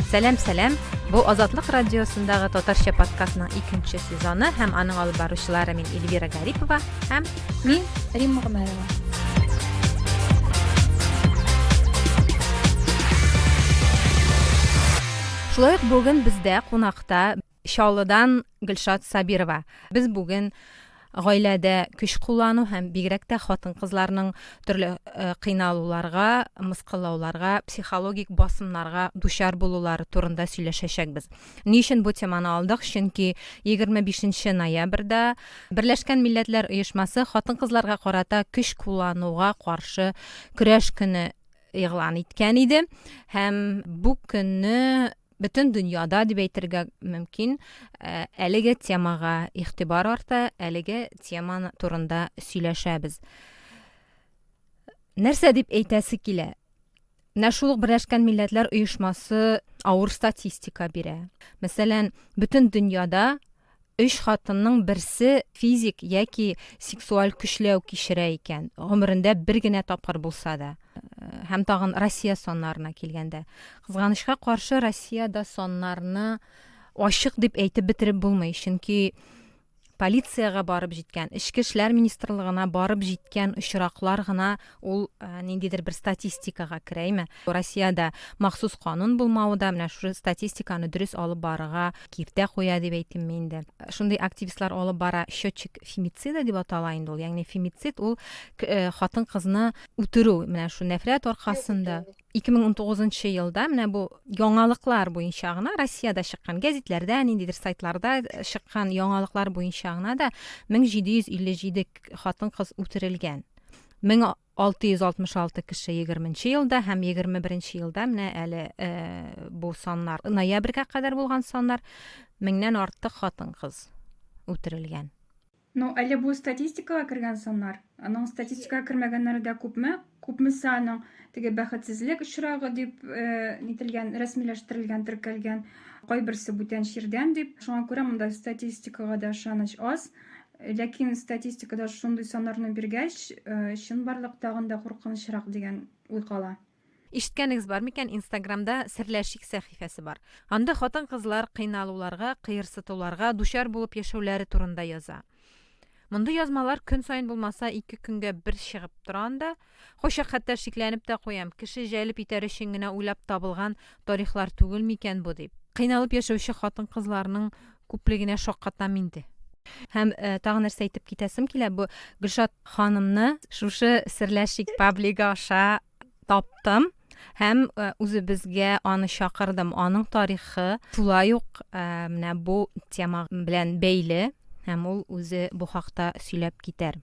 Сәлам, сәлам. Бу Азатлык радиосындагы татарча подкастның икенче сезоны һәм аның алып баручылары мин Эльвира Гарипова һәм мин Римма Гомәрова. Шулай ук бүген бездә кунакта Чаллыдан Гөлшат Сабирова. Без бүген гаиләдә көч куллану һәм бигрәк тә хатын-кызларның төрле э, кыйналуларга, мыскыллауларга, психологик басымнарга дучар булулары турында сөйләшәчәкбез. Ни өчен бу теманы алдык? Чөнки 25 ноябрьдә Берләшкән Милләтләр оешмасы хатын-кызларга карата көч куллануга каршы көрәш көне игълан иткән иде һәм бу көнне бөтен дөньяда дип әйтергә мөмкин, э, әлеге темага игътибар арта, әлеге теманы турында сөйләшәбез. Нәрсә дип әйтәсе килә? Менә шул Берләшкән Милләтләр оешмасы авыр статистика бирә. Мәсәлән, бөтен дөньяда Өч хатынның берсе физик яки сексуаль көчләү кичерә икән, гомерендә бер генә тапкыр булса да. Һәм тагын Россия саннарына килгәндә. Кызганычка каршы, Россиядә саннарны ачык дип әйтеп бетереп булмый, чөнки полициягә барып җиткән, эчке эшләр министрлыгына барып җиткән очраклар гына Ул ниндидер бер статистикага керә име? Россиядә махсус канун булмавы да менә шушы статистиканы дөрес алып барырга киртә куя дип әйтимме инде. Шундый активистлар алып бара счетчик фемицида дип атала инде ул. Ягъни фемицид ул хатын-кызны үтерү, менә шу нәфрәт аркасында. 2019 елда менә бу яңалыклар буенча гына Россиядә чыккан гәзитләрдә, ниндидер сайтларда чыккан яңалыклар буенча гына да 1757 хатын-кыз үтерелгән. 1666 кеше 20 елда һәм 21 елда менә әле э, бу саннар ноябрьгә кадәр булган саннар меңнән артык хатын кыз үтерелгән. Ну, әле бу статистикага кергән саннар. Аның статистикага кермәгәннәре дә күпме? Күпмесе аның теге бәхетсезлек очрагы дип э, нителгән, рәсмиләштерелгән, теркәлгән, кайберсе бүтән чирдән дип. Шуңа күрә монда статистикага да ышаныч аз. Ләкин статистикада шундый саннарны биргәч, чынбарлык тагын да куркынычрак дигән уй кала. Ишеткәнегез бар микән, Инстаграмда Серләшик сәхифәсе бар. Анда хатын-кызлар кыйналуларга, кыерсытуларга дучар булып яшәүләре турында яза. Мондый язмалар көн саен булмаса, ике көнгә бер чыгып тора анда. Кайчак хәтта шикләнеп тә куям, кеше җәлеп итәр өчен генә уйлап табылган тарихлар түгел микән бу дип. Кыйналып яшәүче хатын-кызларның күплегенә шаккатам инде. Һәм тагын нәрсә әйтеп китәсем килә, бу Гөлшат ханымны шушы Серләшик паблигы аша таптым һәм үзебезгә аны чакырдым. Аның тарихы шулай ук менә бу тема белән бәйле һәм ул үзе бу хакта сөйләп китәр.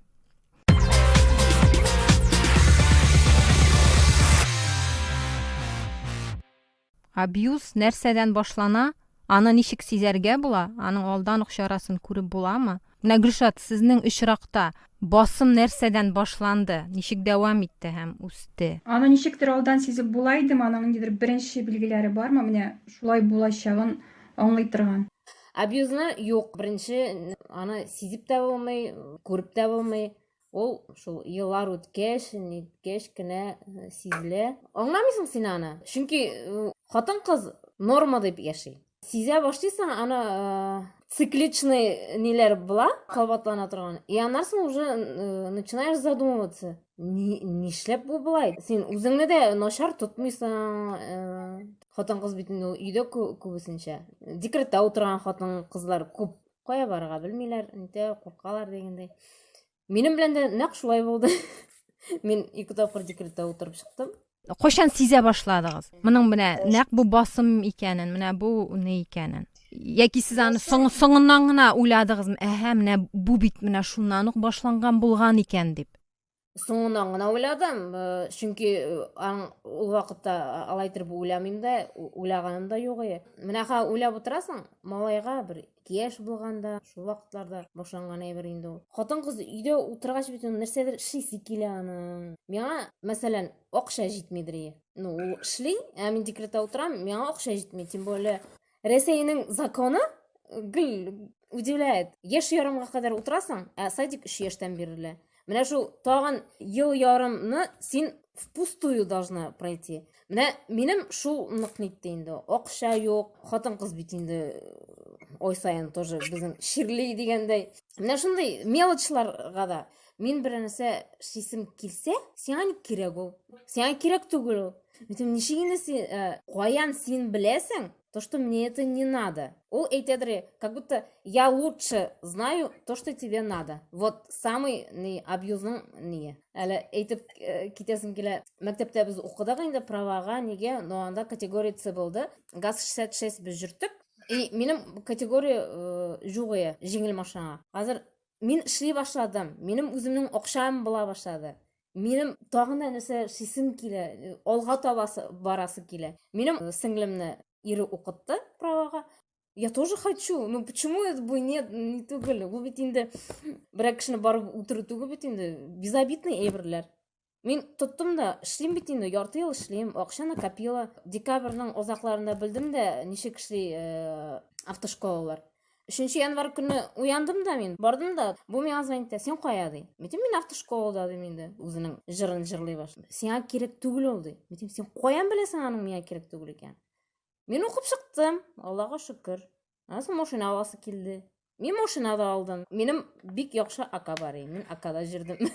Абьюз нәрсәдән башлана? Аны ничек сизәргә була? Аның алдан ук чарасын күреп буламы? Менә Гөлшат, сезнең очракта басым нәрсәдән башланды? Ничек дәвам итте һәм үсте? Аны ничектер алдан сизеп була идеме? Аның ниндидер беренче билгеләре бармы? Менә шулай булачагын аңлый торган. Абьюзны юк, беренче аны сизеп тә булмый, күреп тә булмый. Ул шул еллар үткәч, ниткәч кенә э, сизелә. Аңламыйсың син аны. Чөнки э, хатын-кыз норма дип яши. Сизә башлыйсың аны э, цикличный ниләр була, кабатлана торган. И аннарсың уже начинаешь задумываться. Нишләп бу болай? Син үзеңне дә начар тотмыйсың, Хатын-кыз бит инде ул өйдә күбесенчә. Декретта утырган хатын-кызлар күп. Кая барырга белмиләр, инде куркалар дигәндәй. Минем белән дә нәкъ шулай булды. Мин ике тапкыр декретта утырып чыктым. Кайчан сизә башладыгыз? Моның менә нәкъ бу басым икәнен, менә бу ни икәнен. Яки сез аны соң, соңыннан гына уйладыгызмы? Әһә, менә бу бит менә шуннан ук башланган булган икән дип. соңынан гына уйладым чөнки ул вакытта алай итеп уйламыйм да уйлаганым да юк иде менә ха уйлап утырасың малайга бер кияш булганда шул вакытларда башланган әйбер инде ул хатын кыз өйдә утыргач бит нәрсәдер эшлисе килә аның миңа мәсәлән акча җитмидер ну ул эшли ә мин декретта утырам миңа акча җитми тем более Рәсәйнең законы гел удивляет. Яшь ярымга кадәр утырасың, ә садик 3 яшьтән бирелә. Менә шул тагын ел ярымны син впустую должна пройти. Менә минем шул нык нитте инде. Акча юк, хатын-кыз бит инде ой сайын тоже безнең чирли дигәндәй. Менә шундый мелочларга да Мин бер нәрсә шисем килсә, сиңа ник кирәк ул? Сиңа кирәк түгел ул. Мин ничек инде син, э, каян син беләсең? То, что мне это не надо. Ул әйтәдер, как будто я лучше знаю то, что тебе надо. Вот самый не абьюзның не. Әле әйтеп э, китәсем килә. Мәктәптә без укыдык инде правага, нигә? Но анда категория С булды. ГАЗ 66 без йөрттек. И минем категория э, югыя, җиңел машина. Хәзер мин эшли башладым минем үземнең акчам була башлады минем тагын да нәрсә эшлисем килә алга таба барасы килә минем сеңлемне ире укытты правага я тоже хочу ну почему это бы нет не түгел бу бит инде берәр кешене барып үтерү түгел бит инде безобидный әйберләр Мин тоттым да, эшлим бит инде, ярты ел эшлим, акча накопила. Декабрьнең озакларында белдем дә, ничек эшли э, автошколалар. Өченче январь көне уяндым да мин, бардым да, бу миңа звонит итә, син кая ди. Митим мин автошколада дим инде, үзенең җырын җырлый башлады. Сиңа кирәк түгел ул ди. Митим син каян беләсең аның миңа кирәк түгел икән? Мин укып чыктым, Аллага шөкер. Анысы машина аласы килде. Мин машина да алдым. Минем бик яхшы ака бар иде. Мин акада җирдем.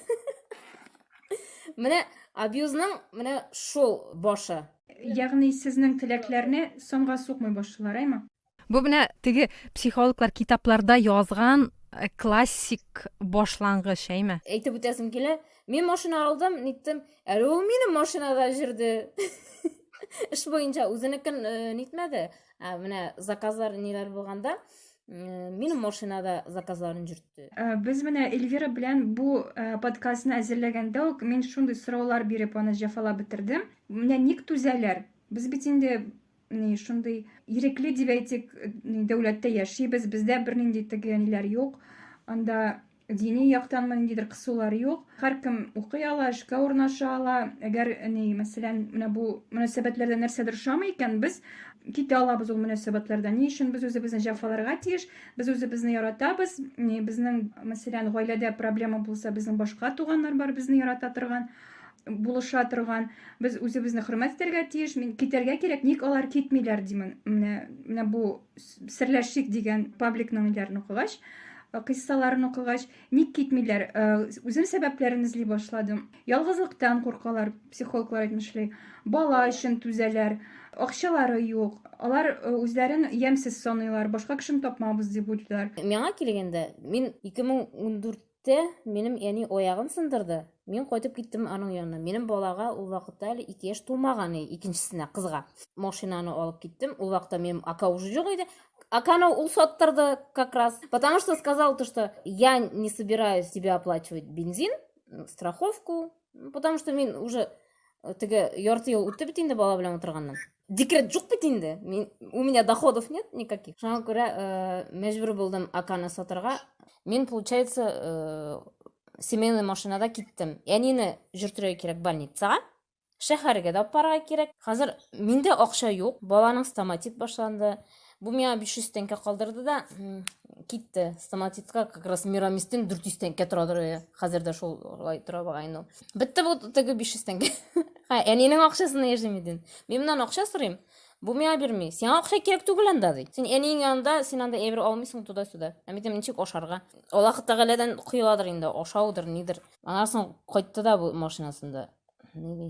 Менә абьюзның менә шул башы. Ягъни сезнең теләкләрне соңга сукмый башлыйлар, әйме? Бу менә теге психологлар китапларда язган э, классик башлангыч, әйме? Әйтеп үтәсем килә. Мин машина алдым, ниттем. Әле ул минем машинада җирде. Эш буенча үзенекен э, нитмәде. Ә менә заказлар ниләр булганда, минем машинада заказларын җөртте. Ә, без менә Эльвира белән бу ә, подкастны әзерләгәндә үк мин шундый сораулар биреп аны җәфалап бетердем. Менә ник түзәләр? Без бит инде ни шундый ирекле дип әйтик, дәүләттә яшибез, бездә бернинди теге ниләр юк. Анда Дини яктанмы ниндидер кысулар юк. Һәркем укый ала, эшкә урнаша ала. Әгәр ни, мәсәлән, менә бу мөнәсәбәтләрдә нәрсәдер ошамый икән, без китә алабыз ул мөнәсәбәтләрдән. Ни өчен без үзебезне җәфаларга тиеш? Без үзебезне яратабыз. Ни, безнең, мәсәлән, гаиләдә проблема булса, безнең башка туганнар бар, безне ярата торган, булыша торган. Без үзебезне хөрмәт итәргә тиеш. Мин китәргә кирәк, ник алар китмиләр, димен. Менә, менә бу Серләшик дигән пабликның ниләрен укыгач, э, кыйссаларын укыгач, ник китмиләр? Э, үзем сәбәпләрен эзли башладым. Ялгызлыктан куркалар, психологлар әйтмешли. Бала өчен түзәләр, акчалары юк. Алар э, үзләрен ямьсез саныйлар, башка кешене тапмабыз дип уйлыйлар. Миңа килгәндә, мин 2014 Тә, минем әни аягын сындырды. Мин кайтып киттем аның янына. Минем балага ул вакытта әле ике яшь тулмаган иде, икенчесенә, кызга. Машинаны алып киттем. Ул вакытта минем ака уже юк иде. Аканы ул саттырды как раз. Потому что сказал то, что я не собираюсь тебе оплачивать бензин, страховку, Потому что мин уже э, теге ярты ел үтте бит инде бала белән утырганнан. Декрет жук бит инде. Мин, у меня доходов нет никаких. Шуңа күрә э, мәҗбүр булдым аканы сатырга. Мин, получается, э, семейный машинада киттем. Әнине жүртергә кирәк больницага. Шәһәргә дә апарга кирәк. Хәзер миндә акча юк. Баланың стоматит башланды. Бу миңа 500 тәңкә калдырды да китте. Стоматитка как раз мирамистин 400 тәңкә тора дөрәе. Хәзер дә шулай тора багайну. Бетте бу теге 500 тәңкә. Ха, әнинең акчасына яшим иден. Мин моннан акча сорыйм. Бу миңа бирми. Сиңа акча кирәк түгел анда ди. Син әниең янында, син анда әйбер алмыйсың туда-сюда. Ә мин ничек ашарга? Аллаһ Тәгаләдән коеладыр инде, ашаудыр, нидер. Анасын кайтты да бу машинасында. Ни ди?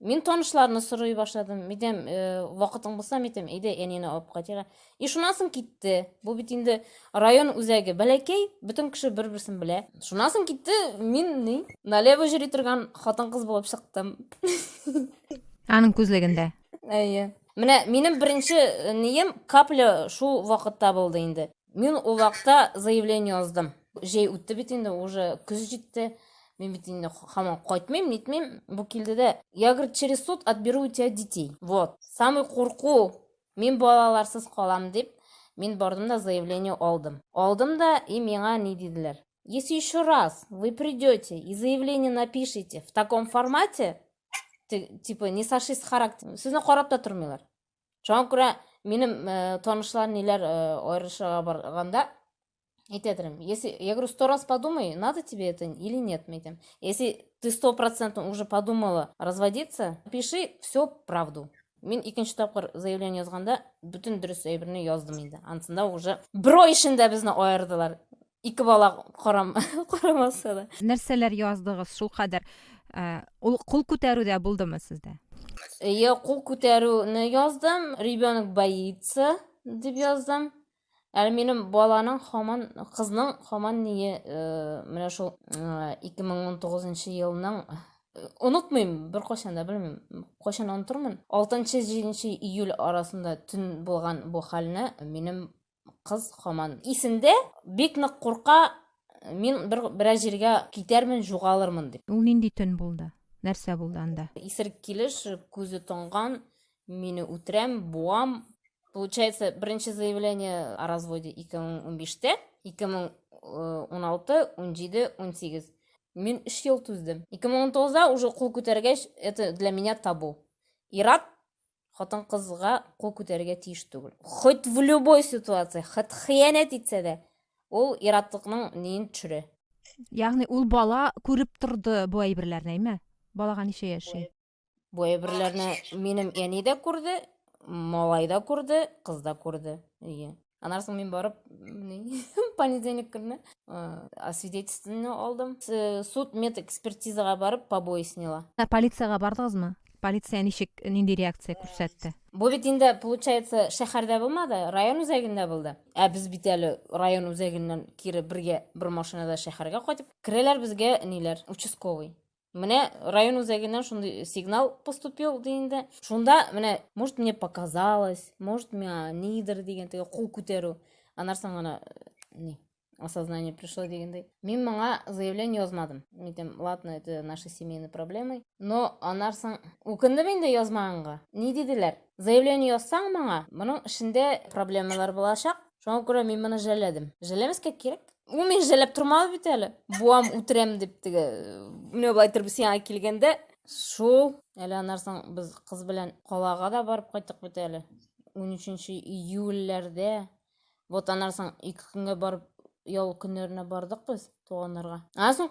Мин танышларны сорый башладым. Мидем, э, вакытың булса, мидем, әйдә әнине алып кайтыйк. И шуннан соң китте. Бу бит инде район үзәге. Бәләкәй, бөтен кеше бер-берсен белә. Шуннан соң китте, мин ни? Налево җөри торган хатын-кыз булып чыктым. Аның күзлегендә. Әйе. Менә минем беренче э, нием капля шул вакытта булды инде. Мин ул вакытта заявление яздым. Җәй үтте бит инде, уже көз җитте. Мин бит инде хаман кайтмыйм, нитмим. Бу килде дә, я, говорит, через суд отберу у тебя детей. Вот. Самый курку, мин балаларсыз калам дип, мин бардым да заявление алдым. Алдым да, и миңа ни диделәр. Если еще раз вы придете и заявление напишите в таком формате, типа не сошли с характера, сезне карап та тормыйлар. Шуңа күрә минем э, танышлар ниләр э, аерышырга барганда әйтә торам. Если я говорю сто раз подумай, надо тебе это или нет, мәйтем. Если ты сто процентов уже подумала разводиться, пиши все правду. Мин икенче тапкыр заявление язганда бөтен дөрес әйберне яздым инде. Ансында уже бер ай эчендә безне аердылар. ике бала карам карамаса да нәрсәләр яздыгыз шулкадәр ул кул күтәрү дә булдымы сездә я кул күтәрүне яздым ребенок боится дип яздым әле минем баланың хаман кызның хаман ние менә шул ике мең он тугызынчы елның онытмыйм бер кайчан да белмим кайчан онытырмын алтынчы җиденче июль арасында төн булган бу хәлне минем кыз хаман исендә, бик нык курка, мин бер берәр җиргә китәрмен, җугалырмын дип. Ул нинди төн булды? Нәрсә булды анда? Исерек килеш, күзе тонган, мине үтерәм, буам. Получается, беренче заявление о разводе 2015-тә, 2016, 17, 18. Мин 3 ел түздем. 2019-да уже кул күтәргәч, это для меня табу. Ират хатын-кызга кул күтәрергә тиеш түгел. Хоть в любой ситуация, хоть хыянәт итсә дә, ул иратлыкның ниен төшерә. Ягъни ул бала күреп торды бу әйберләрне, әйме? Балага ничә яши? Бу әйберләрне минем әни дә күрде, малай да күрде, кыз да күрде. Ие. Аннан соң мин барып, понедельник көнне освидетельствоны алдым. Суд мед экспертизага барып побои сняла. Ә полициягә бардыгызмы? Полиция ничек, нинди реакция күрсәтте? Бу бит инде, получается, шәһәрдә булмады, район үзәгендә булды. Ә без бит әле район үзәгеннән кире бергә бер машинада шәһәргә кайтып, керәләр безгә ниләр, участковый. Менә район үзәгеннән шундый сигнал поступил ди инде. Шунда менә, может, мне показалось, может, миңа нидер дигән теге кул күтәрү. Анарсан гына не осознание пришло дигәндәй. Мин моңа заявление язмадым. Митем, ладно, это наши семейные проблемы. Но анарсан үкендем инде язмаганга. Ни диделәр? Заявление язсаң моңа, моның эшендә проблемалар булачак. Шуңа күрә мин моны жәлләдем. Жәлләмәскә кирәк. Ул мин жәлләп тормады бит әле. Буам үтерәм дип теге. Менә болай торып сиңа килгәндә шул. Әле анарсың без кыз белән калага да барып кайттык бит әле. 13 июльләрдә. Вот анарсың ике көнгә барып ял көннәренә бардык без туганнарга. Анарсың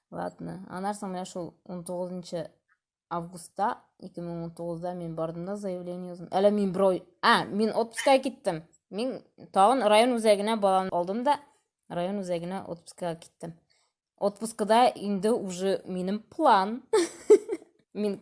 Ладно. Анар соң менә шул 19 августта 2019да мин бардым да заявление яздым. Әле мин бро... А, мин отпускай киттем. Мин тагын район үзәгенә баланы алдым да район үзәгенә отпускага киттем. Отпускада инде уже минем план. Мин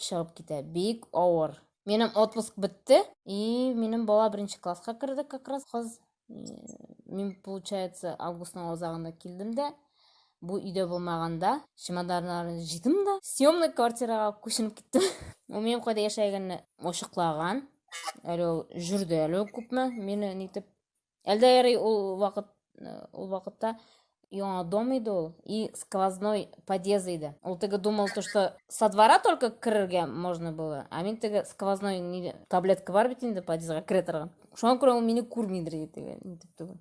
чыгып китә. Бик авыр. Минем отпуск бетте, и минем бала беренче класска керде как раз кыз. Мин, получается, августның азагында килдем дә, бу өйдә булмаганда, чемоданнарны җыйдым да, съемный квартирага күченеп киттем. Ул минем кайда яшәгәнне ачыклаган. Әле ул жүрде әле күпме, мине нитеп Әлдә ярый ул вакыт э, ул вакытта яңа дом иде ул и сквозной подъезд иде. Ул теге думал то, что со двора только керергә можно было, а мин теге сквозной ни таблетка бар бит инде подъездга керә торган. Шуңа күрә ул мине күрмидер иде теге.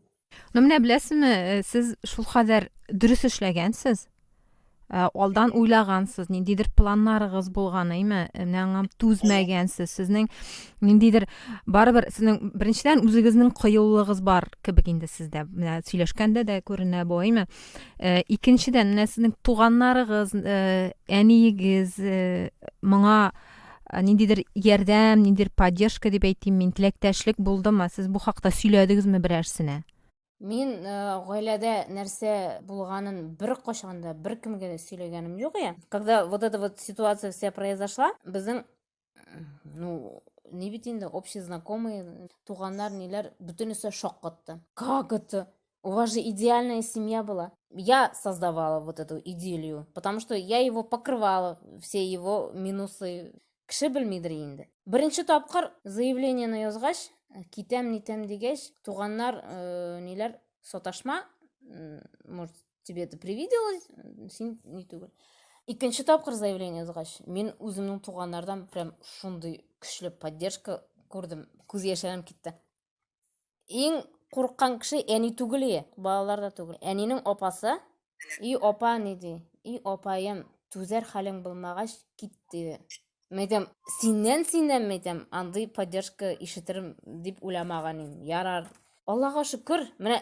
Ну менә беләсезме, э, сез шул кадәр дөрес эшләгәнсез, Ә, алдан уйлагансыз, ниндидер планнарыгыз булган, әйме? Менә аңа түзмәгәнсез. Сезнең ниндидер барыбер сезнең беренчедән үзегезнең кыюлыгыз бар кебек инде сездә. Менә сөйләшкәндә дә күренә бу, әйме? Ә, икенчедән, менә сезнең туганнарыгыз, ә, әниегез ә, моңа ниндидер ярдәм, ниндидер поддержка дип әйтим мин, теләктәшлек булдымы? Сез бу хакта сөйләдегезме берәрсенә? Мин э, гаиләдә нәрсә булганын бер кашан да бер кемгә дә сөйләгәнем юк я. Когда вот эта вот ситуация вся произошла, безнең ну, не бит инде общий знакомый, туганнар, ниләр, бөтенесе шок катты. Как это? У вас же идеальная семья была. Я создавала вот эту идиллию, потому что я его покрывала, все его минусы, Кеше белмидер инде. Беренче тапкыр заявлениене язгач, китәм нитәм дигәч, туганнар э, ниләр саташма, может, тебе это привиделось, син ни түгел. Икенче тапкыр заявление язгач, мин үземнең туганнардан прям шундый көчле поддержка күрдем. Күз яшьләрем китте. Иң курккан кеше әни түгел, балалар да түгел. Әнинең апасы, и апа ни ди, и апаем, түзәр хәлең булмагач кит диде. Мәйтәм, синнән синнән мәйтәм, андый поддержка ишетерем дип уйламаган идем. Ярар. Аллага шөкер, менә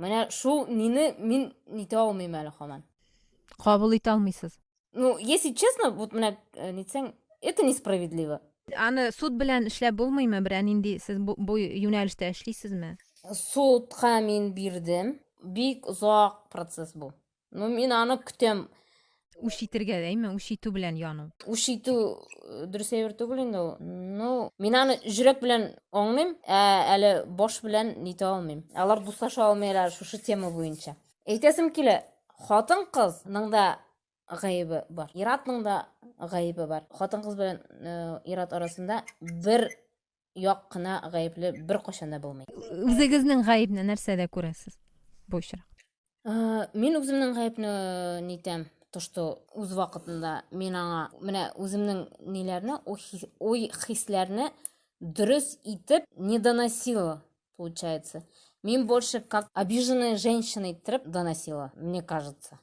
Менә шул мине мин нитә алмыйм әле хаман. Кабул итә алмыйсыз. Ну, если честно, вот менә э, нитсәң, это несправедливо. Аны суд белән эшләп булмыймы? Берәр нинди сез бу, бу юнәлештә эшлисезме? Судка мин бирдем. Бик озак процесс бу. Ну, мин аны көтәм. Үч итергә дәйме, үч итү белән яну. Үч итү э, дөрес әйбер түгел инде ул. Ну, мин аны жүрәк белән аңлыйм, ә әле баш белән нитә алмыйм. Алар дуслаша алмыйлар шушы тема буенча. Әйтәсем килә, хатын кызның да гаебе бар. Иратның да гаебе бар. Хатын кыз белән э, ират арасында бер як кына гаепле беркайчан да булмый. Үзегезнең гаепне нәрсәдә күрәсез бу очрак? Э, мин үземнең гаепне э, нитәм, то что үз вакытында мин аңа менә үземнең ниләрне, уй хисләрне дөрес итеп не доносила, получается. Мин больше как обиженная женщина иттереп доносила, мне кажется.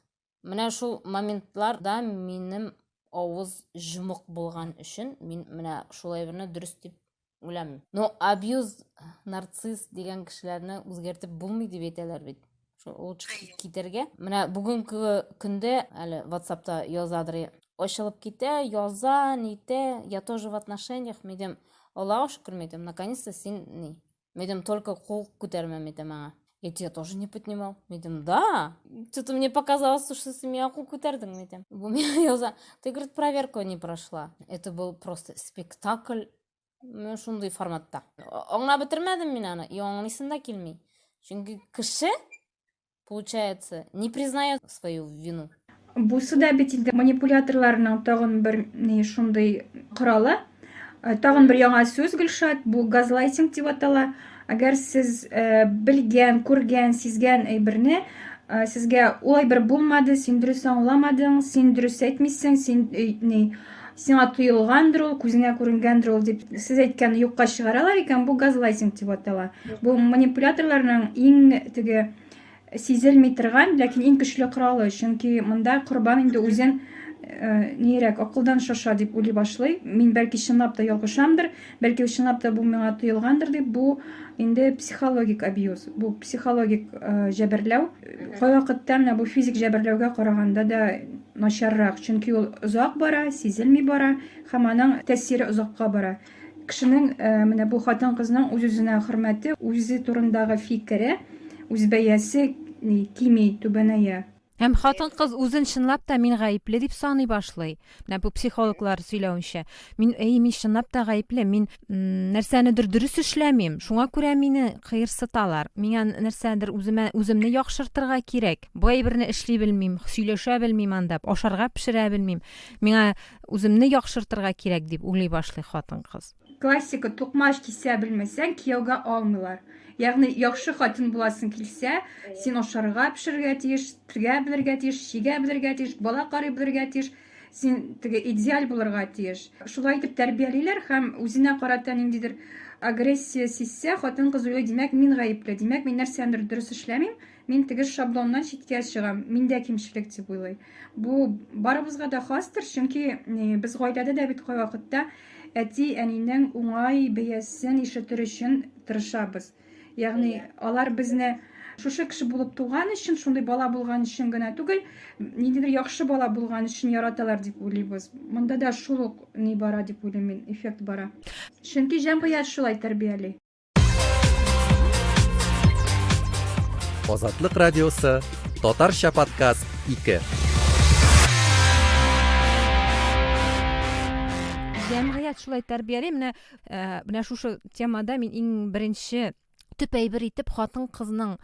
Менә шул моментларда минем авыз җомык булган өчен мин менә шул әйберне дөрес дип үләм. Но абьюз, нарцисс дигән кешеләрне үзгәртеп булмый дип әйтәләр бит. Шул лучше китәргә. Менә бүгенге көндә әле WhatsAppта язадыр. Ачылып китә, яза, нитә, я тоже в отношениях, мидем. Аллага шөкер мидем, наконец-то син ни, Мидем только кул күтәрмә мидем аңа. Эти я тоже не поднимал. Мидем, да. Что-то мне показалось, что ты меня кул күтәрдең, мидем. Бу меня яза. Ты, говорит, проверку не прошла. Это был просто спектакль. Мен шундый форматта. Аңа бетермәдем мин аны. И аңлыйсын да килми. Чөнки кеше получается, не признает свою вину. Бусы да бит инде манипуляторларның тагын бер ни шундый коралы. Э, тагын бер яңа сүз Гөлшат, бу газлайтинг дип атала. Әгәр сез э, белгән, күргән, сизгән әйберне э, сезгә улай бер булмады, син дөрес аңламадың, син дөрес әйтмисең, син ни сиңа тоелгандыр ул күзеңә күренгәндер ул дип сез әйткәнне юкка чыгаралар икән бу газлайтинг дип атала бу манипуляторларның иң теге сизелми торган ләкин иң көчле коралы чөнки монда корбан инде үзен э, нирәк акылдан шаша дип уйлый башлый мин бәлки чынлап та ялгышамдыр Бәлки чынлап та бу миңа тоелгандыр дип, бу инде психологик абьюз, бу психологик э, җәберләү. Кайвакытта менә бу физик җәберләүгә караганда да начаррак, чөнки ул озак бара, сизелми бара һәм аның тәэсире озакка бара. Кешенең э, менә бу хатын-кызның үз-үзенә хөрмәте, үзе турындагы фикере, үзбәясе кими, түбәнәя. Һәм хатын-кыз үзен чынлап та мин гаепле дип саный башлый. Менә бу психологлар сөйләвенчә, мин әй мин чынлап та гаепле, мин нәрсәнедер дөрес эшләмим, шуңа күрә мине кыерсыталар. Миңа нәрсәдер үземә үземне яхшыртырга кирәк. Бу әйберне эшли белмим, сөйләшә белмим анда, ашарга пешерә белмим. Миңа үземне яхшыртырга кирәк дип уйлый башлый хатын-кыз. Классика, тукмач кисә белмәсәң, кияүгә алмыйлар. Ягъни, яхшы хатын буласың килсә, син ашарга, пешерергә тиеш, тергә белергә тиеш, чигә белергә тиеш, бала карый белергә тиеш, син теге идеаль булырга тиеш. Шулай итеп тәрбиялиләр һәм үзенә карата ниндидер агрессия сизсә, хатын-кыз уйлый, димәк, мин гаепле, димәк, мин нәрсәдер дөрес эшләмим, Мин тегеш шаблоннан читкә чыгам. Миндә кимчелек дип уйлый. Бу барыбызга да хастыр, чөнки э, без гаиләдә дә бит кайвакытта әти, әнинең уңай бәясен ишетер өчен тырышабыз. Ягъни алар безне шушы кеше булып туган өчен, шундый бала булган өчен генә түгел, ниндидер яхшы бала булган өчен яраталар дип уйлыйбыз. Монда да шул ук ни бара дип уйлыйм мин, эффект бара. Чөнки җәмгыять шулай тәрбияли. Азатлык радиосы, татарча подкаст 2. Җәмгыять шулай тәрбияли. Менә э, менә шушы темада мин иң беренче төп әйбер итеп хатын кызның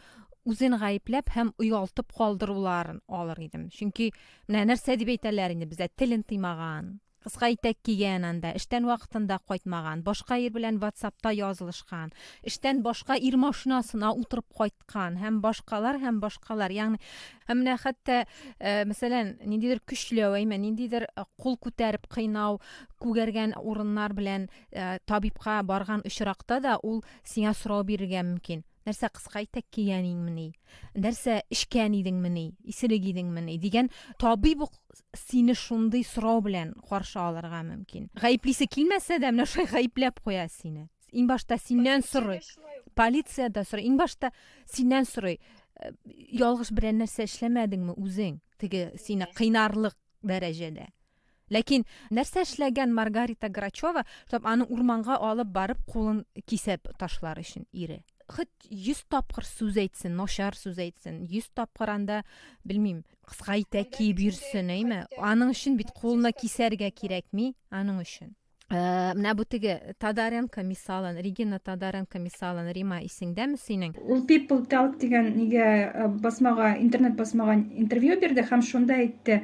үзен гаепләп һәм оялтып калдыруларын алыр идем. Чөнки менә нәрсә дип әйтәләр инде бездә телен тыймаган, Кыска итәк кигән анда, эштән вакытында кайтмаган, башка ир белән ватсапта язылышкан, эштән башка ир машинасына утырып кайткан һәм башкалар һәм башкалар. Ягъни һәм менә хәтта, э, мәсәлән, ниндидер көчләү, әйме, ниндидер э, кул күтәреп кыйнау, күгәргән урыннар белән э, табибка барган очракта да ул сиңа сорау бирергә мөмкин. Нәрсә кыска итәк кигән инеңмени? Нәрсә эчкән идеңмени? Исерек идеңмени? дигән табиб ук сине шундый сорау белән каршы алырга мөмкин. Гаеплисе килмәсә дә, менә шулай гаепләп куя сине. Иң башта синнән сорый. Полиция дә сорый. Иң башта синнән сорый. Э, ялгыш берәр нәрсә эшләмәдеңме үзең? Теге сине кыйнарлык дәрәҗәдә. Ләкин нәрсә эшләгән Маргарита Грачева, чтобы аны урманга алып барып кулын кисеп ташлар өчен ире? хоть йөз тапкыр сүз әйтсен начар сүз әйтсен йөз тапкыр анда белмим Кыска итәк киеп йөрсен, әйме? Аның өчен бит кулына кисәргә кирәкми, аның өчен. Э, менә бу теге Тадаренко мисалын, Регина Тадаренко мисалын, Рима, исеңдәме синең? Ул People Talk дигән нигә э, басмага, интернет басмага интервью бирде һәм шунда әйтте,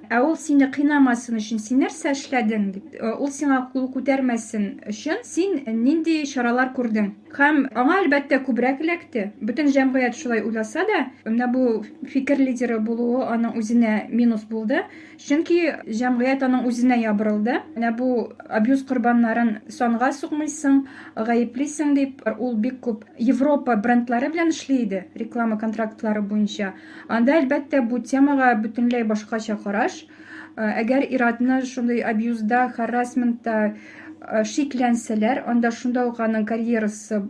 ә ул сине кыйнамасын өчен син нәрсә эшләдең дип, э, ул сиңа кул күтәрмәсен өчен син нинди чаралар күрдең? Һәм аңа, әлбәттә, күбрәк эләкте. Бөтен җәмгыять шулай уйласа да, менә бу фикер лидеры булуы аның үзенә минус булды. Чөнки җәмгыять аның үзенә ябырылды. Менә бу абьюз корбаннарын санга сукмыйсың, гаеплисең дип, ул бик күп Европа брендлары белән эшли иде, реклама контрактлары буенча. Анда, әлбәттә, бу темага бөтенләй башкача караш. Әгәр ир-атны шундый абьюзда, харрасментта шикләнсәләр, анда шунда ук аның карьерасы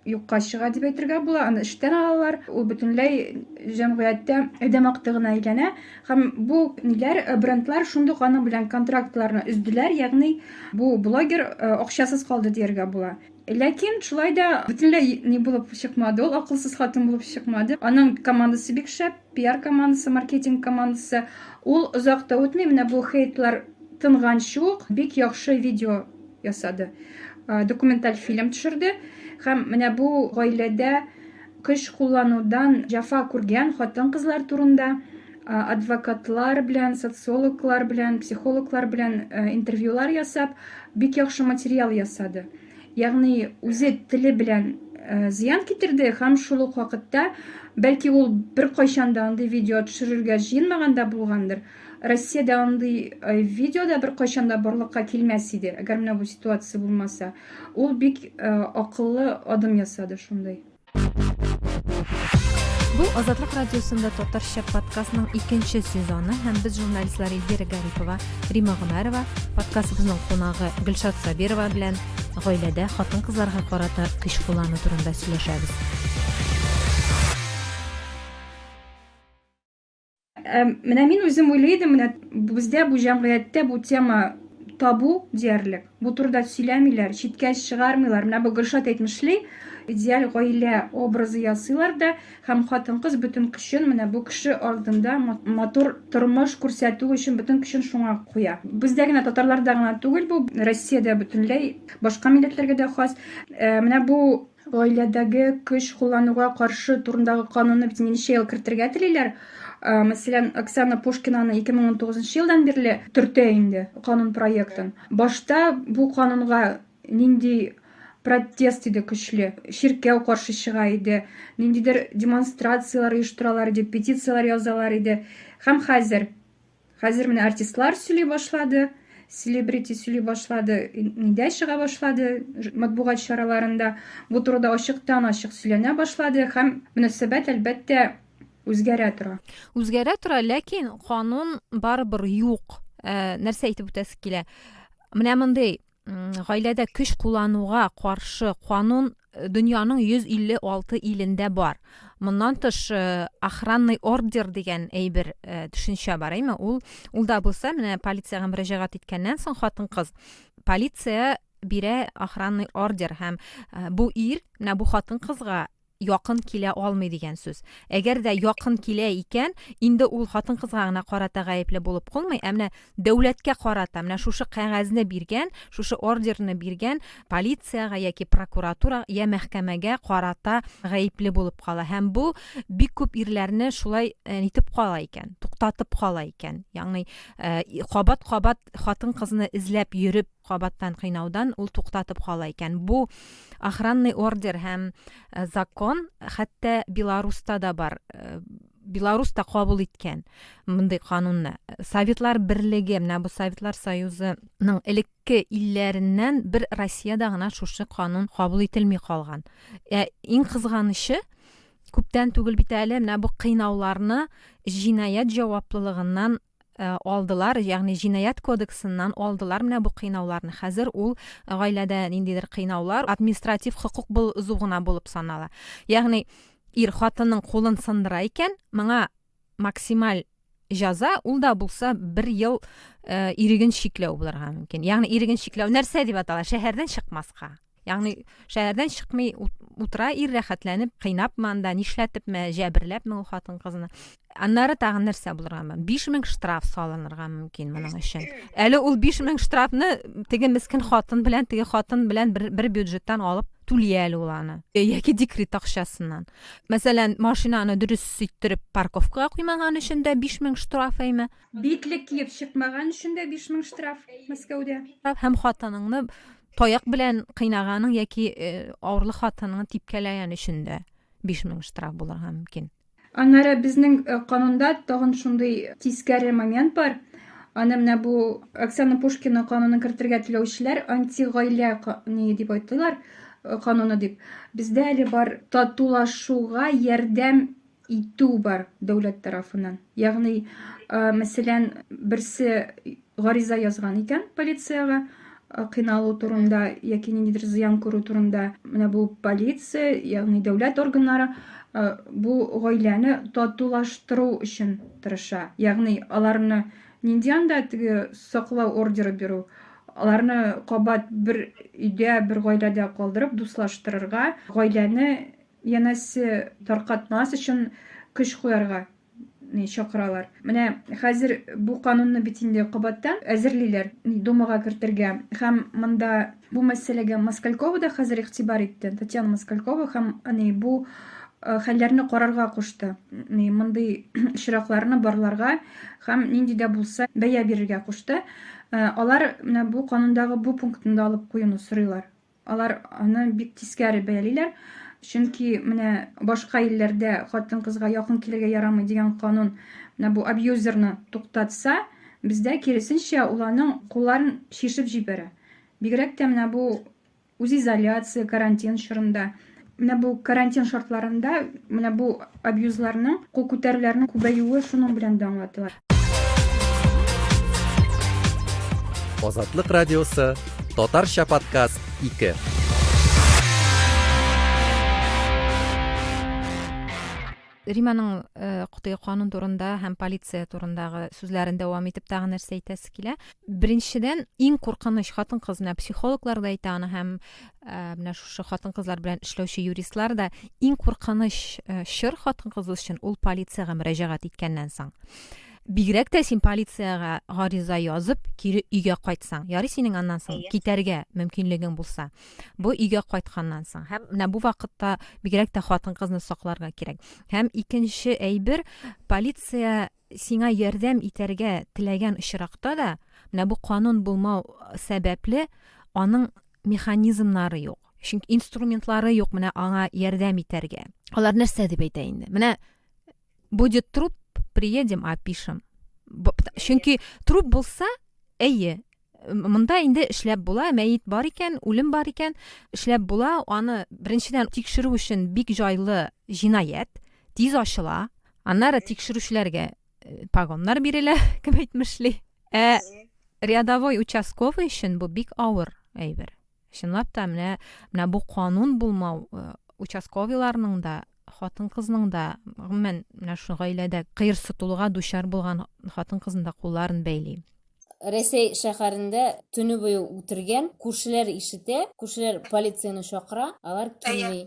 юкка чыга дип әйтергә була, аны эштән алалар, ул бөтенләй җәмгыятьтә адәм акты гына әйләнә. Һәм бу ниләр, э, брендлар шундук аның белән контрактларны өздиләр, ягъни бу блогер э, акчасыз калды дияргә була. Ләкин шулай да бөтенләй ни булып чыкмады ул, акылсыз хатын булып чыкмады. Аның командасы бик шәп, пиар командасы, маркетинг командасы. Ул озак та үтми, менә бу хейтлар тынган шук, бик яхшы видео ясады. Документаль фильм төшерде. Һәм менә бу гаиләдә көч кулланудан җафа күргән хатын-кызлар турында адвокатлар белән, социологлар белән, психологлар белән интервьюлар ясап, бик яхшы материал ясады. Ягъни үзе теле белән зыян китерде һәм шул ук вакытта, бәлки ул бер кайчан да андый видео төшерергә җыенмаган да булгандыр. Россиядә андый видео да бер кайчан да барлыкка килмәс иде, әгәр менә бу ситуация булмаса. Ул бик акыллы адым ясады шундый. Бу Азатлык радиосында татарча подкастның икенче сезоны һәм без журналистлар Эльвира Гарипова, Рима Гомәрова, подкастыбызның кунагы Гөлшат Сабирова белән гаиләдә хатын-кызларга карата көч куллану турында сөйләшәбез. Ә, менә мин үзем уйлый идем, менә бездә бу җәмгыятьтә бу тема табу диярлек. Бу турыда сөйләмиләр, читкә чыгармыйлар. Менә бу Гөлшат әйтмешли, идеаль гаилә образы ясыйлар да һәм хатын-кыз бөтен көчен менә бу кеше алдында матур тормыш күрсәтү өчен бөтен көчен шуңа куя. Бездә генә татарларда гына түгел бу, Россиядә бөтенләй башка милләтләргә дә хас. Ә, менә бу Гаиләдәге көч куллануга каршы турындагы канунны бит ничә ел кертергә телиләр. Мәсәлән, Оксана Пушкинаны 2019 елдан бирле төртә инде канун проектын. Башта бу канунга нинди протест иде көчле. Чиркәү каршы чыга иде, ниндидер демонстрацияләр оештыралар иде, петицияләр язалар иде. Һәм хәзер. Хәзер менә артистлар сөйли башлады, селебрити сөйли башлады, нидә чыга башлады матбугат чараларында. Бу турыда ачыктан ачык сөйләнә башлады һәм мөнәсәбәт әлбәттә үзгәрә тора. Үзгәрә тора, ләкин канун барыбер юк. Нәрсә әйтеп үтәсе килә? Менә мондый гаиләдә көч куллануга каршы канун э, дөньяның 156 илендә бар. Моннан тыш э, охранный ордер дигән әйбер э, төшенчә бар, әйме? Ул ул да булса, менә полициягә мөрәҗәгать иткәннән соң хатын-кыз полиция бирә охранный ордер һәм бу ир менә бу хатын-кызга якын килә алмый дигән сүз. Әгәр дә якын килә икән, инде ул хатын-кызга гына карата гаепле булып калмый, ә менә дәүләткә карата, менә шушы кәгазьне биргән, шушы ордерны биргән полициягә яки прокуратура я мәхкәмәгә карата гаепле булып кала. Һәм бу бик күп ирләрне шулай э, нитеп кала икән, туктатып кала икән. Ягъни э, кабат-кабат хатын-кызны эзләп йөреп кабаттан кыйнаудан ул туктатып кала икән. Бу охранный ордер һәм э, закон хәтта Беларуста да бар. Э, Беларус та кабул иткән мондый канунны. Советлар берлеге, менә бу Советлар Союзының элекке илләреннән бер Россиядә гына шушы канун кабул ителми калган. Ә иң кызганычы, күптән түгел бит әле менә бу кыйнауларны җинаять җаваплылыгыннан Э, алдылар, ягъни җинаять кодексыннан алдылар менә бу кыйнауларны. Хәзер ул э, гаиләдә ниндидер кыйнаулар административ хокук бозу гына булып санала. Ягъни ир хатынның кулын сындыра икән, моңа максималь җәза ул да булса бер ел э, иреген чикләү булырга мөмкин. Ягъни иреген чикләү нәрсә дип атала? Шәһәрдән чыкмаска. Ягъни шәһәрдән чыкмый утыра ир рәхәтләнеп, кыйнапмы анда, нишләтепме, җәберләпме ул хатын-кызны. Аннары тагын нәрсә булырга 5000 штраф салынырга мөмкин моның өчен. Әле ул 5000 штрафны теге мискин хатын белән, теге хатын белән бер, бер бюджеттан алып түли әле ул аны. Яки декрет акчасыннан. Мәсәлән, машинаны дөрес ситтереп парковкага куймаган өчен дә 5000 штраф әйме? Битлек киеп чыкмаган өчен дә 5000 штраф Мәскәүдә. Һәм хатыныңны Таяк белән кыйнаганың яки э, авырлы хатыныңны типкәләгән өчен дә 5000 штраф булырга мөмкин. Аннары безнең э, канунда тагын шундый тискәре момент бар. Аны менә бу Оксана Пушкина канунын кертергә теләүчеләр антигаилә ни дип айтылар э, кануны дип. Бездә әле бар татулашуга ярдәм итү бар дәүләт тарафынан. Ягъни, мәсәлән, берсе гариза язган икән полициягә, кыйналу турында яки ниндидер зыян күрү турында. Менә бу полиция, ягъни дәүләт органнары бу гаиләне татулаштыру өчен тырыша. Ягъни, аларны нинди анда теге саклау ордеры бирү, аларны кабат бер өйдә, бер гаиләдә калдырып, дуслаштырырга, гаиләне Янәсе таркатмас өчен көч куярга чакыралар. Менә хәзер бу канунны бит инде кабаттан әзерлиләр, Думага кертергә. Һәм монда бу мәсьәләгә Москалькова да хәзер игътибар итте, Татьяна Москалькова һәм бу хәлләрне карарга кушты. Мондый очракларны барларга һәм нинди дә булса бәя бирергә кушты. Алар менә бу канундагы бу пунктны да алып куюны сорыйлар. Алар аны бик тискәре бәялиләр, чөнки менә башка илләрдә хатын-кызга якын килергә ярамый дигән канун менә бу абьюзерны туктатса, бездә киресенчә ул аның кулларын чишеп җибәрә. Бигрәк тә менә бу үзизоляция, карантин чорында. Менә бу карантин шартларында менә бу абьюзларның, кул күтәрүләрнең күбәюе шуның белән дә аңлатыла. Азатлык радиосы, татарча подкаст 2. Риманың Котыя канун турында һәм полиция турындагы сүзләрен дәвам итеп тагын нәрсә әйтәсе килә? Беренчедән, иң куркыныч хатын-кыз, менә психологлар да әйтә аны һәм менә шушы хатын-кызлар белән эшләүче юристлар да иң куркыныч чор хатын-кыз өчен ул полициягә мөрәҗәгать иткәннән соң. Бигрәк тә син полициягә гариза язып, кире өйгә кайтсаң, ярый синең аннан соң китәргә мөмкинлегең булса. Бу өйгә кайтканнан соң. Һәм менә бу вакытта бигрәк тә хатын-кызны сакларга кирәк. Һәм икенче әйбер, полиция сиңа ярдәм итәргә теләгән очракта да, менә бу канун булмау сәбәпле, аның механизмнары юк. Чөнки инструментлары юк менә аңа ярдәм итәргә. Алар нәрсә дип әйтә инде? Менә будет труп, приедем, опишем. Чөнки труп булса, әйе, Монда инде эшләп була, мәет бар икән, үлем бар икән, эшләп була, аны беренчедән тикшерү өчен бик җайлы җинаять, тиз ачыла, аннары тикшерүчеләргә э, погоннар бирелә, кем әйтмешли. Ә рядовой участковый өчен бу бик авыр әйбер. Чынлап та менә менә бу канун булмау э, участковыйларның да хатын-кызның да гомумән менә шу гаиләдә кыерсытылуга дучар булган хатын-кызның да кулларын бәйли. Рәсәй шәһәрендә төне буе үтергән, күршеләр ишетә, күршеләр полицияне чакыра, алар килми.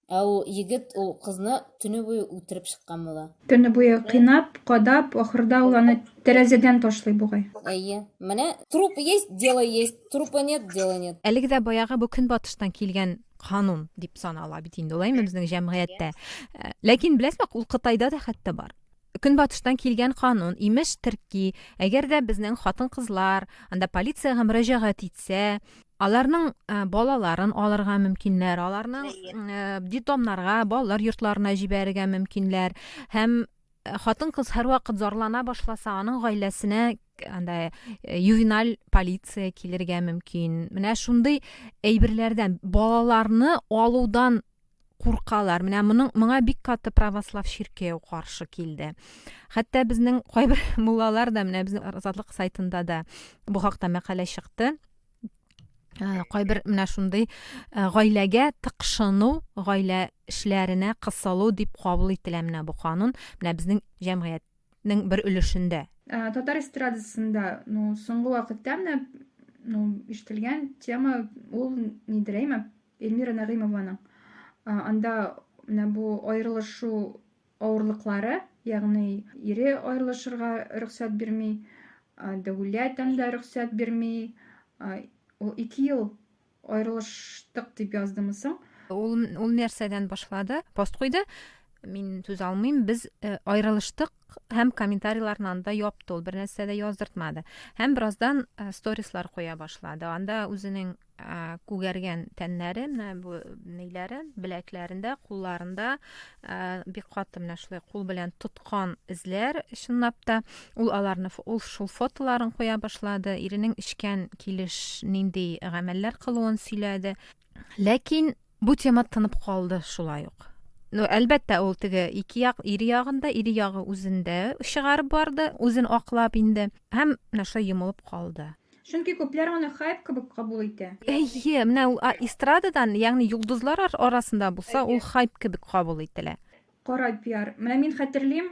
Ә ул егет ул кызны төне буе үтереп чыккан була. Төне буе кыйнап, кадап, ахырда ул аны тәрәзәдән ташлый бугай. Әйе. Менә труп есть, дело есть, трупа нет, дело нет. Әлеге дә баягы бу көнбатыштан килгән канун дип санала бит инде ул, әйме, безнең җәмгыятьтә. Ләкин беләсезме, ул Кытайда да хәтта бар. Көнбатыштан килгән канун, имеш, терки, әгәр дә безнең хатын-кызлар анда полициягә мөрәҗәгать итсә, аларның э, балаларын алырга мөмкиннәр, аларның э, детдомнарга, балалар йортларына җибәрергә мөмкиннәр һәм э, хатын-кыз һәрвакыт зарлана башласа, аның гаиләсенә андай ювеналь полиция килергә мөмкин. Менә шундый әйберләрдән балаларны алудан куркалар. Менә моның моңа бик каты православ чиркәү каршы килде. Хәтта безнең кайбер муллалар да менә безнең Азатлык сайтында да бу хакта мәкалә чыкты. Э, кайбер менә шундый э, гаиләгә тыкшыну, гаилә эшләренә кысылу дип кабул ителә менә бу канун. Менә безнең җәмгыятьнең бер өлешендә. Э, татар эстрадасында, ну, соңгы вакытта менә, ну, ишетелгән тема ул нидер әйме? Эльмира Нәгыймованың анда менә бу аерылышу авырлыклары, ягъни ире аерылышырга рөхсәт бирми, дәүләт анда рөхсәт бирми. Ул 2 ел аерылыштык дип яздымы соң? Ул ул нәрсәдән башлады? Пост куйды. Мин сүз алмыйм. Без э, аерылыштык һәм комментарийларны анда япты. Ул бернәрсә дә яздыртмады. Һәм бераздан э, сторислар куя башлады. Анда үзенең күгәргән тәннәре менә бу ниләре беләкләрендә кулларында бик каты менә шулай кул белән тоткан эзләр чынлап та ул аларны ул шул фотоларын куя башлады иренең эчкән килеш нинди гамәлләр кылуын сөйләде ләкин бу тема тынып калды шулай ук ну әлбәттә ул теге ике як ире ягында ире ягы үзендә чыгарып барды үзен аклап инде һәм менә шулай йомылып калды Чөнки күпләр аны хайп кебек кабул итә. Әйе, менә ул а эстрададан, ягъни йолдызлар ар арасында булса, ул хайп кебек кабул ителә. Кара пиар. Менә мин хәтерлим,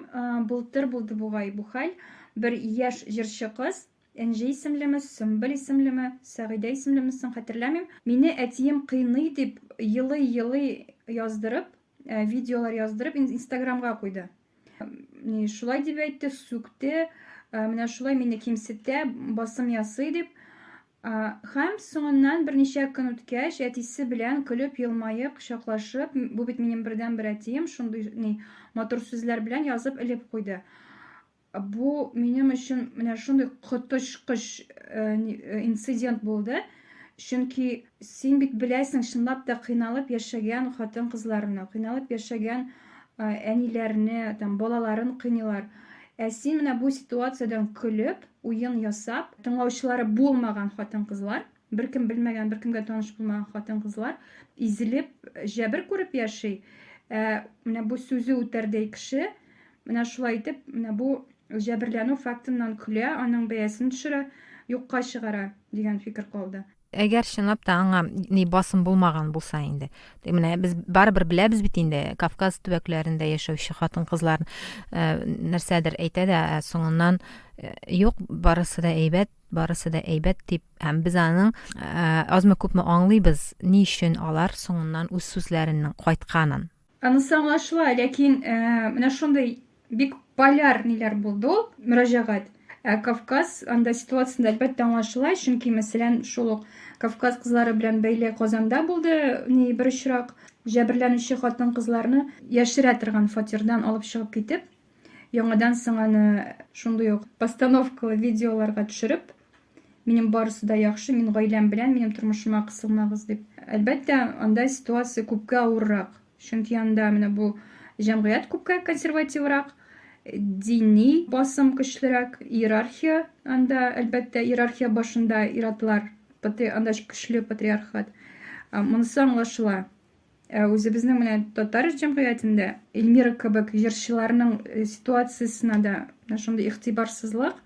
былтыр булды бугай бу хәл, бер яшь җырчы кыз, Энҗе исемлеме, Сөмбел исемлеме, Сәгыйдә исемлеме соң, хәтерләмим, мине әтием кыйный дип, елый-елый яздырып, видеолар яздырып, инстаграмга куйды. Шулай дип әйтте, сүкте, менә шулай мине кимсетә, басым ясый дип. Хәм соңыннан берничә көн үткәч, әтисе белән көлеп, елмаеп, кочаклашып, бу бит минем бердәнбер әтием, шундый ни матур сүзләр белән язып элеп куйды. Бу минем өчен менә шундый коточкыч инцидент булды. Чөнки син бит беләсең, чынлап та кыйналып яшәгән хатын-кызларны, кыйналып яшәгән әниләрне, там балаларын кыйныйлар. Ә син менә бу ситуациядән көлеп, уен ясап, тыңлаучылары булмаган хатын-кызлар, беркем белмәгән, беркемгә таныш булмаган хатын-кызлар изелеп, җәбер күреп яши. Ә менә бу сүзе үтәрдәй кеше Менә шулай итеп, менә бу җәберләнү фактыннан көлә, аның бәясен төшерә, юкка чыгара, дигән фикер калды. Әгәр чынлап та аңа ни басым булмаган булса инде. Менә без барыбер беләбез бит инде Кавказ төбәкләрендә яшәүче хатын-кызлар э, нәрсәдер әйтә дә, ә соңыннан э, юк, барысы да әйбәт, барысы да әйбәт дип, һәм без аның э, азмы күпме аңлыйбыз, ни өчен алар соңыннан үз сүзләренең кайтканын. Анысы аңлашыла, ләкин менә шундый бик поляр ниләр булды ул мөрәҗәгать. Ә Кавказ анда ситуациясендә әлбәттә аңлашыла, чөнки мәсәлән шул ук Кавказ кызлары белән бәйле Казанда булды ни бер очрак, җәберләнүче хатын-кызларны яшерә торган фатирдан алып чыгып китеп, Яңадан соң аны шундый ук постановкалы видеоларга төшереп, минем барысы да яхшы, мин гаиләм белән, минем тормышыма кысылмагыз дип. Әлбәттә, анда ситуация күпкә авыррак. Чөнки анда менә бу җәмгыять күпкә консервативрак, дини басым көчлерәк, иерархия анда, әлбәттә, иерархия башында иратлар, анда көчле патриархат. Монысы аңлашыла. Ә үзебезнең менә татар җәмгыятендә Эльмира кебек җырчыларның э, ситуациясенә дә менә шундый игътибарсызлык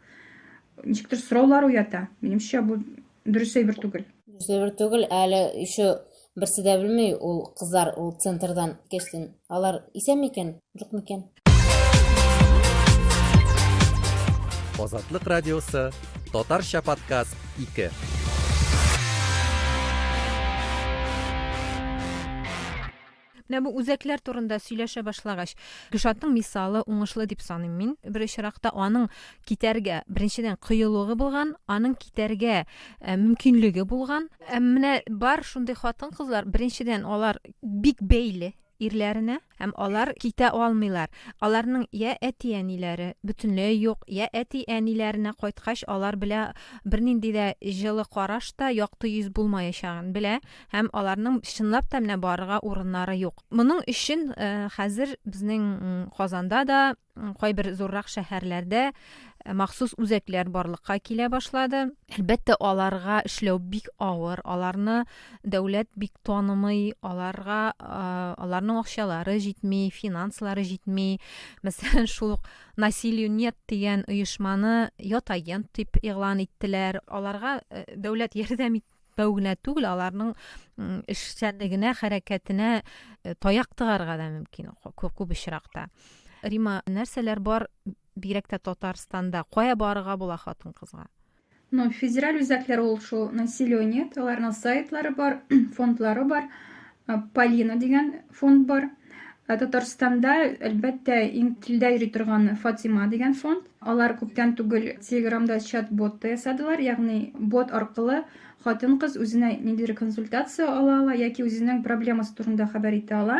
ничектер сораулар уята. Минемчә, бу дөрес әйбер түгел. Дөрес түгел, әле еще берсе дә белми, ул кызлар ул центрдан кешсен. Алар исән микән, юк микән? Азатлык радиосы, татарча подкаст 2. Менә бу үзәкләр турында сөйләшә башлагач, Гөлшатның мисалы уңышлы дип саныйм мин. Бер очракта аның китәргә, беренчедән кыюлыгы булган, аның китәргә ә, мөмкинлеге булган. Ә менә бар шундый хатын-кызлар, беренчедән алар бик бәйле ирләренә һәм алар китә алмыйлар. Аларның йә әти-әниләре бөтенләй юк, йә әти-әниләренә кайткач алар белә бернинди дә җылы караш та, якты йөз булмаячагын белә һәм аларның чынлап та менә барырга урыннары юк. Моның өчен хәзер безнең Казанда да кайбер зуррак шәһәрләрдә э, махсус үзәкләр барлыкка килә башлады. Әлбәттә, аларга эшләү бик авыр, аларны дәүләт бик танымый, аларга э, аларның акчалары җитми, финанслары җитми. Мәсәлән, шул ук насилию нет дигән оешманы ят агент дип игълан иттеләр. Аларга э, дәүләт ярдәм ит- Бәү генә түгел, аларның эшчәнлегенә, хәрәкәтенә э, таяк тыгарга да мөмкин күп очракта. Рима, нәрсәләр бар бигрәк тә Татарстанда? Кая барырга була хатын-кызга? Ну, федераль үзәкләр ул шул насилие нет, аларның сайтлары бар, фондлары бар. Э, Полина дигән фонд бар. Э, Татарстанда, әлбәттә, иң телдә йөри торган Фатима дигән фонд. Алар күптән түгел Телеграмда чат-бот та ясадылар, ягъни бот аркылы хатын-кыз үзенә ниндидер консультация ала ала яки үзенең проблемасы турында хәбәр итә ала.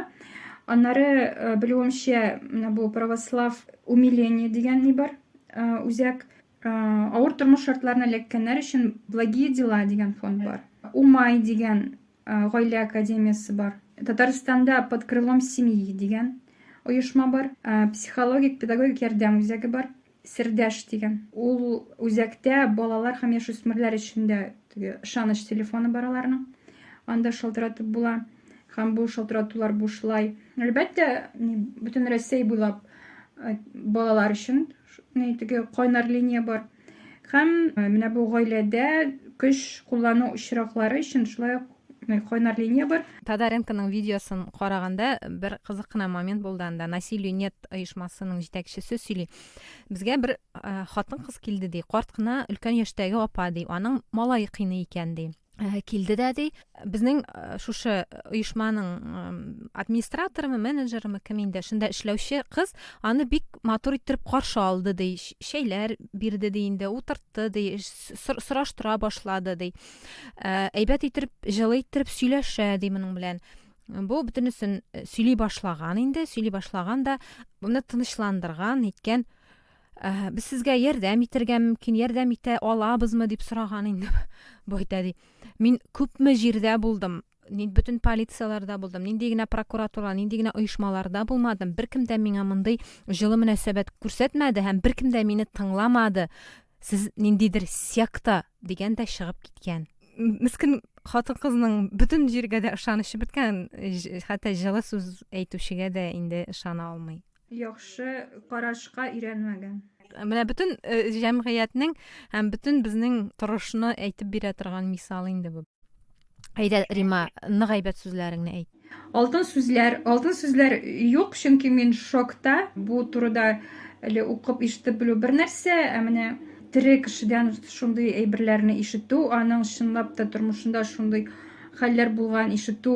Аннары, э, белүемчә, менә бу православ умиление дигән ни бар, э, үзәк э, авыр тормыш шартларына эләккәннәр өчен благие дела дигән фонд бар. Умай дигән Гаилә академиясе бар. Татарстанда под крылом семьи дигән оешма бар. Психологик педагогик ярдәм үзәге бар. Сердәш дигән. Ул үзәктә балалар һәм яшүсмерләр өчен дә ышаныч телефоны бар аларның. Анда шалтыратып була һәм бу шалтыратулар бушлай. Әлбәттә, бөтен Россия буйлап балалар өчен теге кайнар линия бар. Һәм э, менә бу гаиләдә көч куллану очраклары өчен шулай ук э, кайнар линия бар. Тадаренконың видеосын караганда бер кызык кына момент булды анда. Насилию нет оешмасының җитәкчесе сөйли. Безгә бер э, хатын-кыз килде ди, карт кына өлкән яшьтәге апа ди, аның малае кыйный икән ди. Э, килде дә ди безнең э, шушы э, оешманың администраторымы менеджерымы кем инде шунда эшләүче кыз аны бик матур иттереп каршы алды ди шәйләр бирде ди инде утыртты ди сораштыра башлады ди әйбәт иттереп җылы иттереп сөйләшә ди моның белән бу бөтенесен сөйли башлаган инде сөйли башлаган да моны тынычландырган иткән Ә, без сезгә ярдәм итәргә мөмкин, ярдәм итә алабызмы дип сораган инде бу әйтә ди. Мин күпме җирдә булдым, нин бөтен полицияләрдә булдым, нинди генә прокуратура, нинди генә оешмаларда булмадым, беркем дә миңа мондый җылы мөнәсәбәт күрсәтмәде һәм беркем дә мине тыңламады. Сез ниндидер секта дигән дә чыгып киткән. Мискен хатын-кызның бөтен җиргә дә ышанычы беткән, хәтта җылы сүз әйтүчегә дә инде ышана алмый. яхшы карашка өйрәнмәгән. Менә бөтен э, җәмгыятьнең һәм бөтен безнең торышны әйтеп бирә торган мисал инде бу. Әйдә, Рима, нык әйбәт сүзләреңне әйт. Алтын сүзләр, алтын сүзләр юк, чөнки мин шокта. Бу турыда әле укып ишетеп белү бер нәрсә, ә менә тере кешедән шундый әйберләрне ишетү, аның чынлап та тормышында шундый хәлләр булган ишетү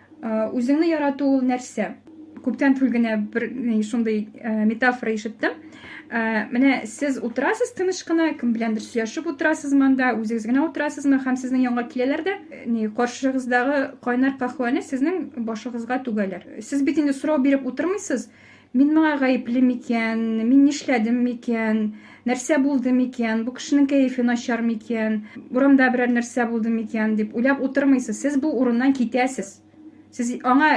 Үзеңне ярату ул нәрсә? Күптән түгел генә бер шундый метафора ишеттем. Менә сез утырасыз тыныч кына, кем беләндер сөйләшеп утырасыз монда, үзегез генә утырасызмы һәм сезнең янга киләләр дә, ни каршыгыздагы кайнар каһвәне сезнең башыгызга түгәләр. Сез бит инде сорау биреп утырмыйсыз, Мин моңа гаепле микән? Мин нишләдем микән? Нәрсә булды микән? Бу кешенең кәефе начар микән? Урамда берәр нәрсә булды микән? дип уйлап утырмыйсыз. Сез бу урыннан китәсез. Сез аңа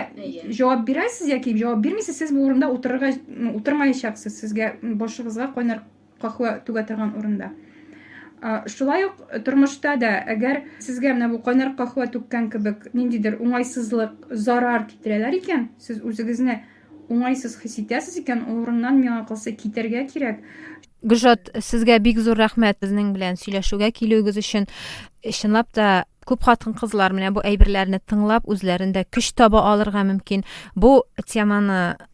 җавап бирәсез яки җавап бирмисез, сез бу урында утырырга утырмаячаксыз. Сезгә башыгызга кайнар кахва түгә торган урында. Шулай ук тормышта да, әгәр сезгә менә бу кайнар кахва түккән кебек ниндидер уңайсызлык, зарар китерәләр икән, сез үзегезне уңайсыз хис итәсез икән, ул урыннан миңа калса китәргә кирәк. Гөлшат, сезгә бик зур рәхмәт безнең белән сөйләшүгә килүегез өчен. Чынлап та күп хатын-кызлар менә бу әйберләрне тыңлап үзләрендә көч таба алырга мөмкин. Бу теманы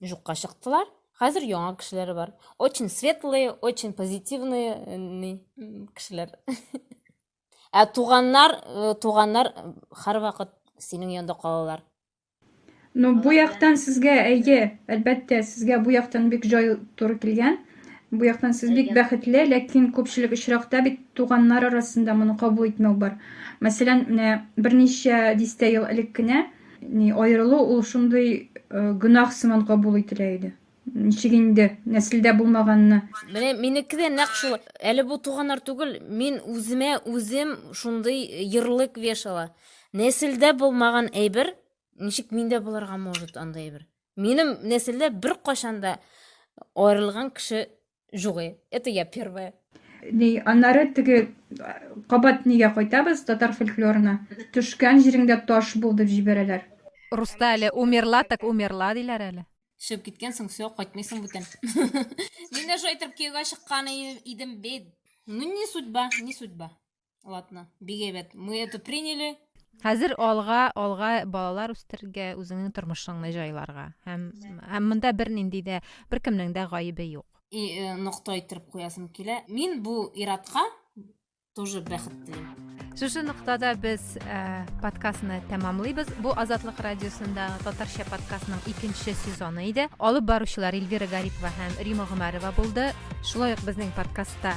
Жукка чыктылар. Хәзер яңа кешеләре бар. Очень светлые, очень позитивные э, кешеләр. Ә туганнар, э, туганнар э, һәр вакыт синең янда калалар. Ну, бу яктан сезгә әйе, әлбәттә, сезгә бу яктан бик җай туры килгән. Бу яктан сез бик бәхетле, ләкин күпчелек очракта бит туганнар арасында моны кабул итмәү бар. Мәсәлән, менә берничә дистә ел элек кенә Ни аерылу ул шундый э, гөнаһ сыман кабул ителә иде. Ничек инде нәселдә булмаганны. Менә минеке дә нәкъ шул. Әле бу туганнар түгел, мин үземә үзем шундый ярлык вешала. Нәселдә булмаган әйбер, ничек миндә булырга может андый әйбер? Минем нәселдә бер кашанда да аерылган кеше Жугы. Это я первая. Ни, аннары теге кабат нигә кайтабыз татар фольклорына. Төшкән җиреңдә таш бул дип җибәрәләр. Руста әле умерла так умерла диләр әле. Төшеп киткәнсең, все, кайтмыйсың бүтән. Мин дә шулай итеп кияүгә чыккан идем бит. Ну не судьба, не судьба. Ладно, бик әйбәт. Мы это приняли. Хәзер алга, алга балалар үстергә, үзеңнең тормышыңны җайларга. Һәм, һәм монда бер нинди дә, бер кемнең дә гаебе юк. И, э, нокта иттереп куясым килә. Мин бу иратка тоже бәхет телим. Шушы ноктада без ә, подкастны тәмамлыйбыз. Бу Азатлык радиосында татарча подкастның икенче сезоны иде. Алып баручылар Эльвира Гарипова һәм Рима Гомәрова булды. Шулай ук безнең подкастта